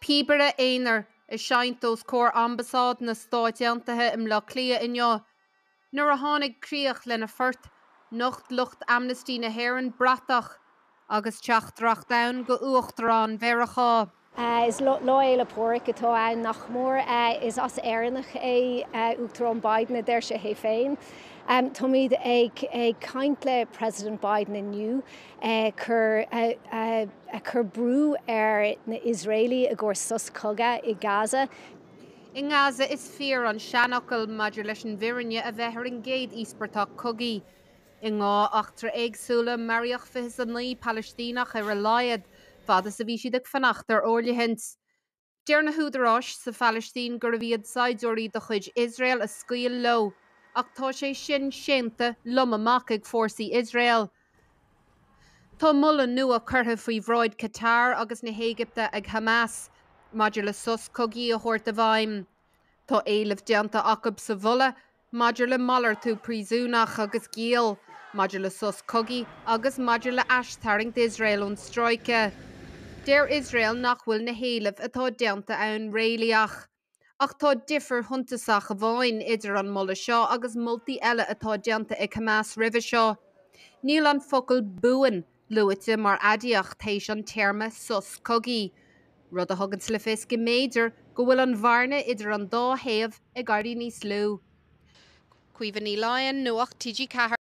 Píobaire aonair ag seinnt os comhair Ambasáid na Stáit Aontaithe i mBleá Cliath inniu. Nuair a tháinig críoch lena phort, nocht lucht Amnesty na hÉireann bratach agus teachtaireacht air go Uachtarán Mheiriceá. Is Lá Fhéile Pádraig atá ann, nach mór. Is as Éireannach é Uachtarán Biden, a deir sé é féin. Táimid ag caint le President Biden inniu. ag cur brú ar na Iosraelaigh i gcomhair sos cogadh i Gaza. I nGaza, is fíor an seanfhocal maidir leis an bhfirinne a bheith ar an gcéad íospartach cogaidh. I ndhá eachtra éagsúla, maraíodh fiche 's a naoi Palaistíneach ar a laghad, fad is a bhí siad ag fanacht ar fhóirithint. Deir na húdaráis sa Phalaistín gurbh iad saighdiúirí de chuid Iosrael a scaoil leo, ach tá sé sin séanta lom amach ag fórsaí Iosrael. Tá moladh nua curtha faoi bhráid Qatar agus na hÉigipte ag Hamas maidir le sos cogaidh a thabhairt i bhfeidhm. Tá éileamh déanta acu sa mholadh maidir le malartú príosúnach agus giall, maidir le sos cogaidh agus maidir le aistharraingt Iosrael ón stráice. Deir Iosrael nach bhfuil na héilimh atá déanta ann réalaíoch. Ach tá difear shuntasach amháin idir an moladh seo agus moltaí eile atá déanta ag Hamas roimhe seo. Níl an focal 'buan' luaite mar aidiacht théis an téarma 'sos cogaidh', rud a thuganns le fios go mb'fhéidir go bhfuil an bhearna idir an dá thaobh ag éirí níos lú. Caoimhe Ní Laighin, Nuacht TG4.